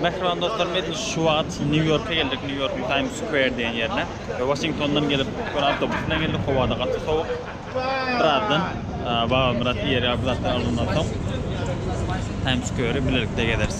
Mähriban dostlarym, edil şu wagt Nýu-Ýorka geldik, Nýu-Ýorkyň Times Square diýen ýerine. We Waşingtondan gelip, bir awtobus bilen geldik, howa-da gaty sowuk. Birazdan Babamyrat iýer ýaly bir zatlar alandan soň, Times Square-i bilelikde gezeris.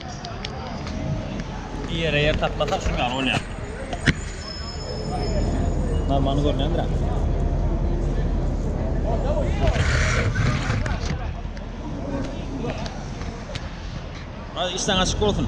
Bir ýere ýer taplasak şuň ýaly bolýar. Normany görnendir ha. Hadi işten açık olsun.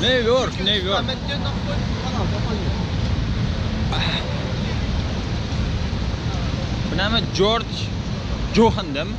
New York, New York. Bu näme George Johan demi?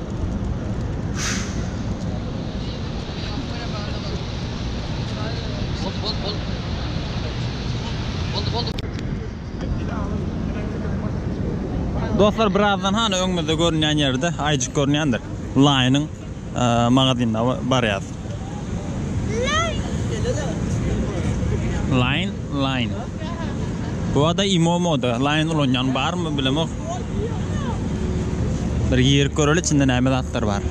Dostlar birazdan hany öňümizde görünýän ýerde aýjyk görünýändir. Line-yň e, magazynyna barýas. Line, line. Bu ada imo moda. Line ulanyan bar mı bilemok. Bir girip göreli içinde näme zatlar bar.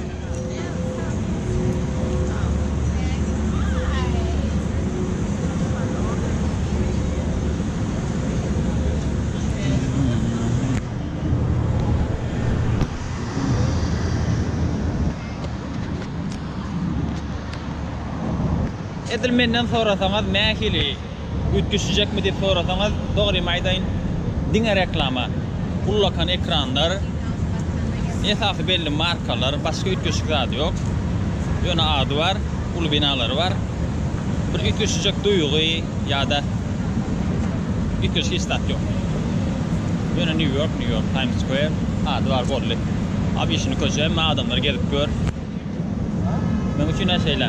Edil menden sorasaňyz nähili üýtgeşijekmi diýip sorasaňyz dogrymy aýdaýyn diňe reklama, ullakan ekranlar, esasy belli markalar başga üýtgeşik zady ýok. Ýöne ady bar, uly binalary bar. Bir üýtgeşijek duýgy ýa-da üýtgeşik hiç zat ýok. Ýöne New York, New York, Times Square ady bar boldy. Obişini köçe hem adamlar gezip gör. Meň üçin de şeýle.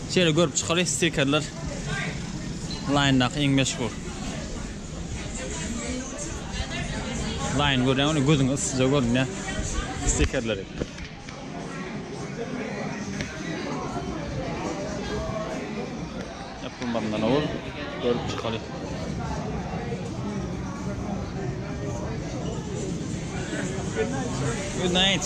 Şeýle görüp çykaly stikerler Line-daky iň meşhur. Line görýäňmi gözüňe yssyja görünýär stikerleri. Ýapylmazyndan owal görüp çykaly. Good night.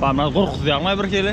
Barmagy gorkuzýarmy bir hili?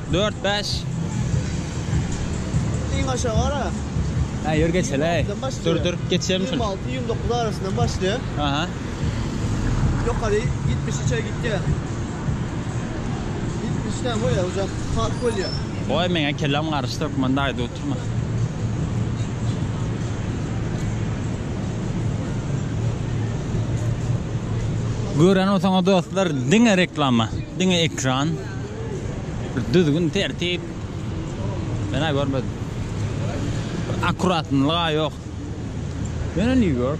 Dört bäş. Iň aşagy ara. Hä, ýör geçeli-aý. Dur, dur, geçýärmi şuny? Ýigrimi alty, ýigrimi dokuz arasyndan başlaýar. Aha. Ýokary ýetmişe çenli gitýär. Ýetmişden goýa uzak park bolýar. Goý, meň-ä kelläm garyşdy, hökman daýda oturma. Gören bolsaňyz dostlar, diňe reklama, diňe ekran. Bir düzgün tertip menä görmedim. Bir akuratnylyga ýok. Ýöne New York.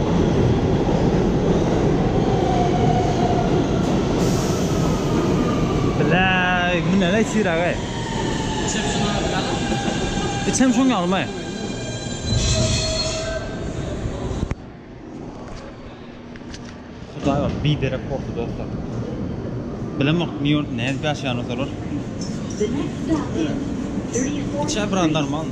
Bläý, bu näleý çyragy? Içem şuň ýaly ýaly. Içem şuň ýalymy? Hudaý bar, biderek boldy dostlar. Bilemok Nýu-Ýorkda nädip ýaşaýandyr olar. Içä biraz normalmy?